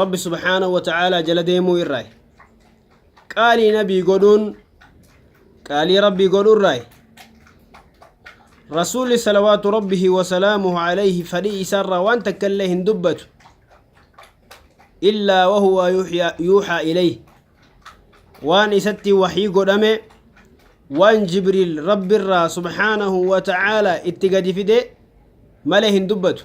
rabbi subhaanahu wa ta'aalaa jala deemuu irraay qaalii nabii godhuun qaalii rabbii godhu irraay rasuulli salawaatu rabbihi wasalaamuhu alayhi fadhii isaarraa waan takka illee hin dubbatu illaa wahuwa yuhyaa- yuuxaa ilayh waan isatti waxii godhame waan jibriil rabbirraa subhaanahu wa ta'aalaa itti gadi fide malee hin dubbatu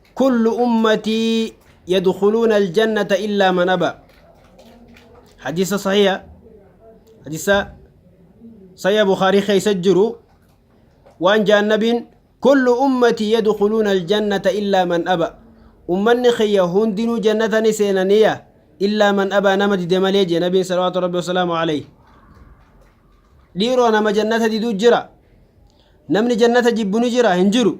Kullu ummatii yadkhuluuna aljannata illaa man aba. Hadiisa sahiha. Hadiisa sahiha Bukhaarii keessa jiru waan jaan nabiin kullu ummatii yadkhuluuna aljannata illaa man aba. Ummanni kiyya hundinuu jannata ni seenaniya illaa man aba nama dide malee jee nabiin salawaatu rabbi wasalaamu alayhi. Dhiiroo nama jannata diduu jira. Namni jannata jibbu ni jira hin jiru.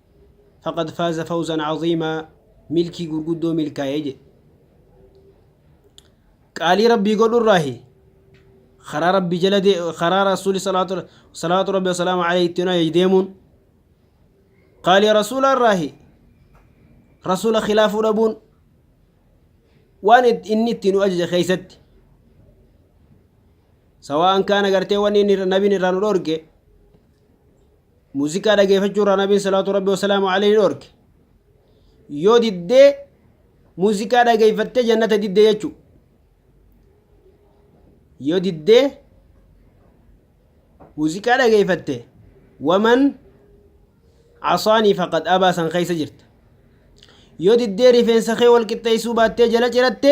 faqad faaza fawzan caziimaa milkii gurguddoo milkaa'ee jedhe qaalii rabbii godhurraahi karaa rabbii jala dee karaa rasuuli salaatu salaatu rabbi wasalaamu alayhi ittiin ajaje deemuun qaalii rasuula irraahi rasuula khilaafuu dhabuun waan it- inni ittiin nu ajaje keeysatti sawaan kaan agartee wanni inni irra- nabiin irraa nu dhorge Muuziqaa dhageefachuu irraa Nabiin salaatu Rabbi wasalaamu alayhi ni dhorke. Yoo diddee muuziqaa dhageeffattee jannata diddee jechuu. Yoo diddee muuziqaa dhageeffatte waman asaanii faqad abaa san keessa jirta. Yoo diddee rifeensa kee wal qixxeessuu baattee jala ciratte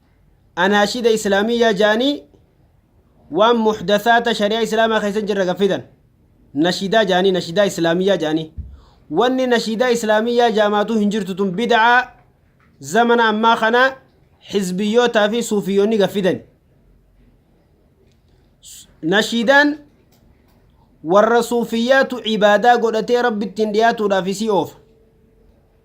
Anaashiida Islaamiyyaa ja'anii waan muhdathaata shari'aa Islaamaa keessa hin jirre gad fidan. Nashiidaa ja'anii, nashiidaa Islaamiyyaa ja'anii. Wanni nashiidaa Islaamiyyaa ja'amaatuu hin jirtu tun bid'aa zamana ammaa kana hizbiyyootaa fi suufiyyoonni gad fidani. Nashiidaan warra suufiyyaatu ibaadaa godhatee rabbi ittiin dhiyaatuudhaaf isii oofa.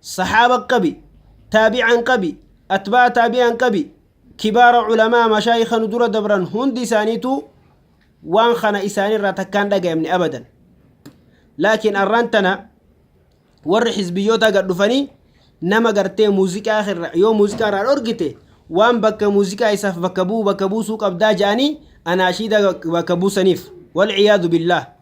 Sahaaba qabi, Taabi'aan qabi, Atbaa'a Taabi'aan qabi, Kibaara Ulamaa Mashaayikha nu dura dabran hundi isaaniitu waan kana isaanirraa takkaan dhagayamne abadan. Laakiin arraan tana warri xizbiyyootaa gad dhufanii nama gartee muuziqaa irra yoo muuziqaa irraa dhorgite waan bakka muuziqaa isaaf bakka bu'u bakka buusuu qabdaa ja'anii anaashiida bakka buusaniif. Walciyaadu billaah.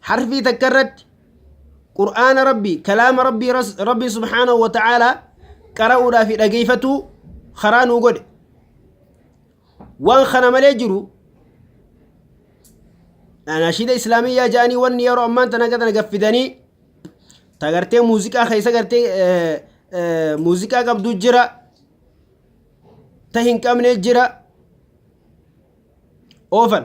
Harfii takka irratti Qur'aana Rabbii, kalaama Rabbii, Ras- Rabbiin subhaanahu wa ta'aalaa qara'uudhaa fi dhageeffatuu karaa nuu godhe. Waan kana malee jiru nashiida islaamiyyaa ja'anii wanni yeroo ammaan tana gatan gaffidanii ta gartee muuziqaa keessa gartee eh, eh, muuziqaa qabdu jira ta hin qabne jira oofan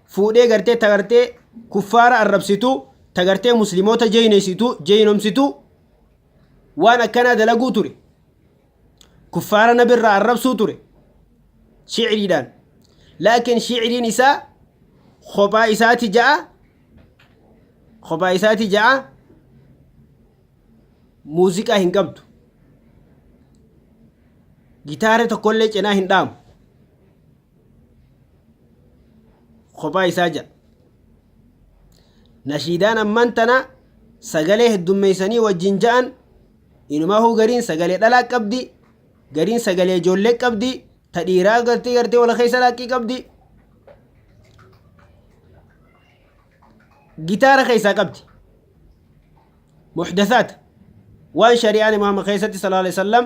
fuudhee gartee ta gartee kuffaara arrabsitu ta gartee muslimoota jeeyneesitu jeeynomsitu waan akkanaa dalaguu ture kuffaara nabirraa arrabsuu ture shicriidhaan laakiin shicriin isaa kophaa isaati ja'a kophaa isaati ja'a muuziqaa hin qabdu gitaara tokkollee cinaa hin dhaamu kophaa isaa jedha. Nashiidaan ammaan tana sagalee heddummeessanii wajjin ja'an inumahuu gariin sagalee dhalaa qabdi gariin sagalee ijoollee qabdi ta dhiiraa gartee gartee wal keessa laaqqii qabdi gitaara keessaa qabdi muxdasaat waan shari'aan imaama keessatti sallallahu alaihi wasallam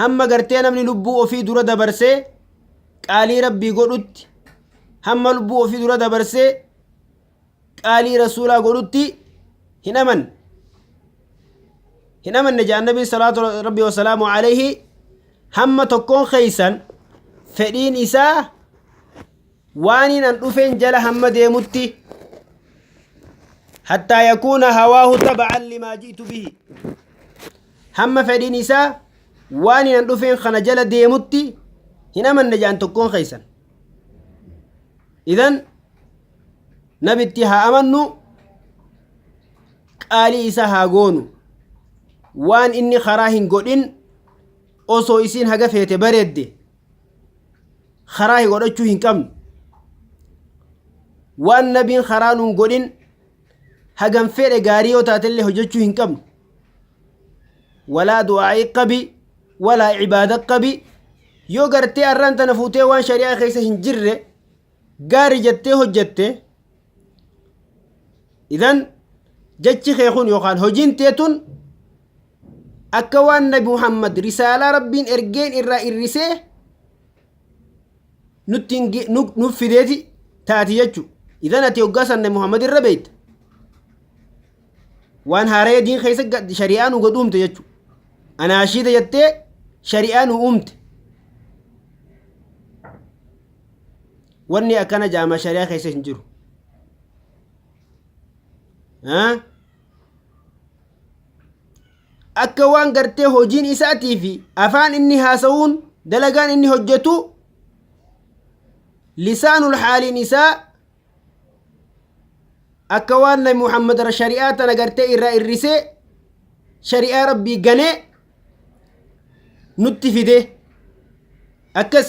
hamma gartee namni lubbuu ofii dura dabarsee qaalii rabbii godhutti hamma lubbuu ofii dura dabarsee qaalii rasuulaa godhutti hin aman hin amanne jedhan nabiin salaatu rabbii wasalaamu alayhi hamma tokkoon keeysan fedhiin isaa Waaniin an dhufeen jala hamma deemutti hattaa yakuuna hawaahu taba'an limaa ji'tu bihi hamma fedhiin isaa waaniin an dhufeen kana jala deemutti hin amanne jaan tokkoon keessan idan nabitti haa amannu qaalii isa haa goonu waan inni karaa hin godhin osoo isiin haga feete bareedde karaa godhachuu hin qabnu waan nabiin karaa nuun godhin hagam fedhe gaarii yoo taatellee hojjechuu hin qabnu walaa du'aa'ii qabi walaa ibaada qabi yoo gartee arraan tana fuutee waan shari'aa keessa hin jirre gaarii jettee hojjette idan jechi kee kun yookaan hojiin tee tun Akka waan Nabi Muhammad risaalaa Rabbiin ergeen irraa irrisee nutti hin ge- nu- nuuf fideeti taati jechu. Idan ati hoggaa san Nabi Muhammad irra beeyta. Waan haaraya diin keessa gad- shari'aa nu gad uumte jechu. Anaashiida jettee shari'aa nu uumte. Wanni akkana jaama shari'aa keessa hin jiru. Haa? akka waan gartee hojiin isaatii fi afaan inni haasa'uun dalagaan inni hojjetu lisaanul haaliin isaa akka waan nabi muhammad shari'aa tana gartee irraa irrisee shari'aa rabbii ganee nutti fide akkas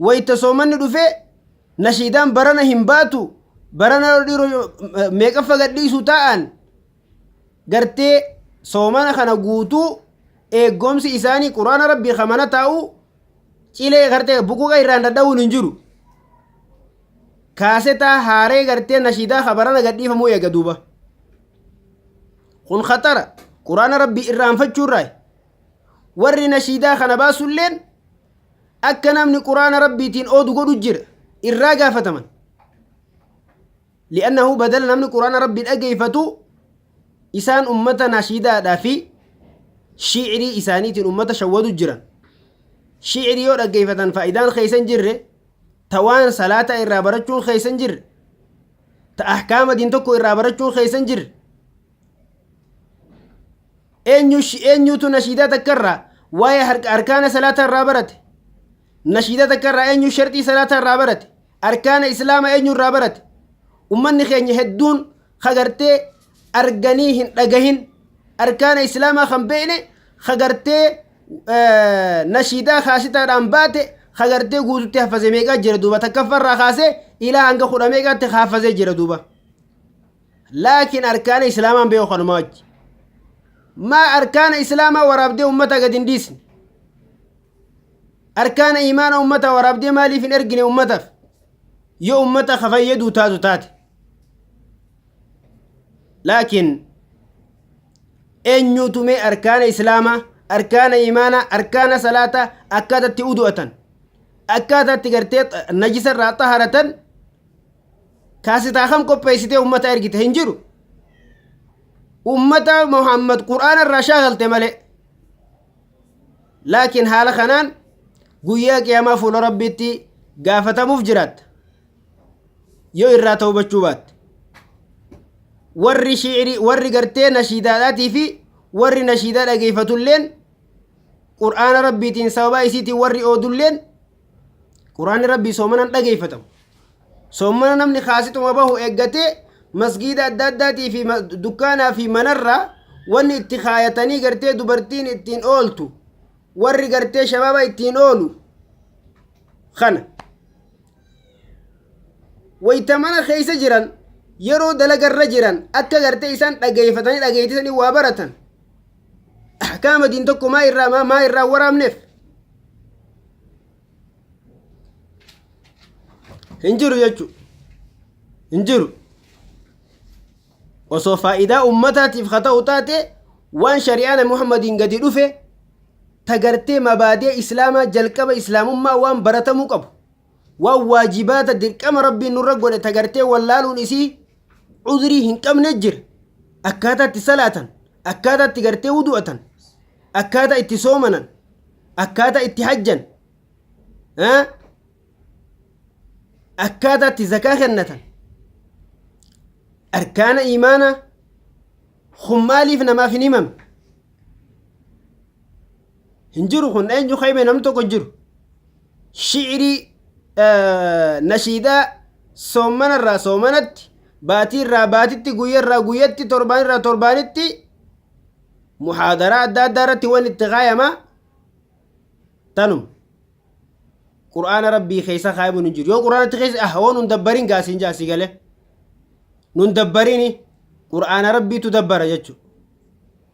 Wayta soomanni dhufe nashiidaan barana hin baatu barana dhiiroo meeqaffa gadhiisu taa'an gartee soomana kana guutuu eeggoomsi isaanii quraana rabbii kamana taa'u cilee gartee buquqa irraan dhadha'uun hin jiru. Kaasetaa haaree gartee nashiidaa kabarana gadhiifamuu eega duuba. Kun khatara quraana rabbii irraanfachuurraa warri nashiidaa kana baasulleen Akka namni Qur'aana Rabbiitiin oodu godhu jira. Irraa gaafataman. Li'annahu badala namni Qur'aana Rabbi dhageeffatu isaan ummata nashiidaadhaa fi shiirii isaaniitiin ummata shawwadu jiran. Shiirii yoo dhaggeeffatan faayidaan keessan jirre ta waan salaataa irraa barachuun keessan jirre ta ahkaama diin tokko irraa barachuun keessan jirre Eenyush eenyuutu nashiidaa takka irraa waa'ee harka arkaana salaataa irraa barate? Nashiidaa takka irraa eenyu sharxii salaataa irraa barate? Arkaana islaama eenyu irraa barate? Ummanni keenya hedduun kagartee arganii hin dhagahin arkaana islaamaa kan beekne kagartee eh, nashiidaa kaasitaadhaan baate kagartee guututti haffazee meeqaa jira duuba takkaffa irraa kaasee ilaa hanga kudha meeqaatti haffazee jira duuba. laakiin arkaana islaamaan beeku kanumaa wajji maa arkaana islaamaa waraabdee ummata gad hin dhiisne arkaana imaana ummata waraabdee maaliif hin ergine ummataaf yoo ummata ka fayyaduu taatu taate laakiin eenyuutu mee arkaana islaamaa arkaana imaana arkaana salaata akkaatatti udu'atan akkaatatti gartee najisa irraa xaharatan kaasitaa kam qopheessitee ummata ergite hin jiru ummata muhammad qur'aana irraa shaagalte malee laakiin haala kanaan guyyaa qiyaamaa fuula rabbiitti gaafatamuuf jiraatta yoo irraa tawbachuu baatte warri shiicrii warri gartee nashiidaadhaatii fi warri nashiidaa dhageeffatulleen qur'aana rabbiitiin sababaa isiitiin warri oodulleen Quraanni Rabbii soomanaan dhageeffatamu. Soomana namni kaasituma bahu eeggatee masgiida adda addaatii fi dukkaanaa fi manarraa wanni itti kaayatanii gartee dubartiin ittiin ooltu warri gartee shabaaba ittiin oolu kana. Wayita mana keessa jiran yeroo dalagarra jiran akka gartee isaan dhageeffatanii dhageettisanii waa baratan. Ahkaama diin tokko maa irraa maa irraa waraabneef. hin jiru jechuudha. hin jiru osoo faayidaa ummataatiif haa ta'u taate waan shari'aana muhammadiin gadi dhufe tagartee mabaadee islaamaa jalqaba islaamummaa waan baratamuu qabu waan waajibaata dirqama rabbiin nurra godhe tagartee wallaaluun isii cudrii hin qabne jira akkaataa itti salaatan akkaataa itti gartee wudu'atan akkaataa itti soomanan akkaataa itti hajjan akkaataa itti zakaa kennatan arkaana imaana kun maaliif namaaf hin himame hin jiru kun eenyu kaime namni tokko hin jiru shi'irii nashiidaa soomanarraa soomanatti baatiirraa baatitti guyyarraa guyyatti torbaanirraa torbaanitti muhaadaraa adda addaa irratti waan itti kaayama tanum qur'aana rabbii keessa kaayamuun hin jiru yoo qur'aanatti keessa ah waan nun dabbariin gaasiin jaasii galee nun dabbariini qur'aana rabbiitu dabbara jechuudha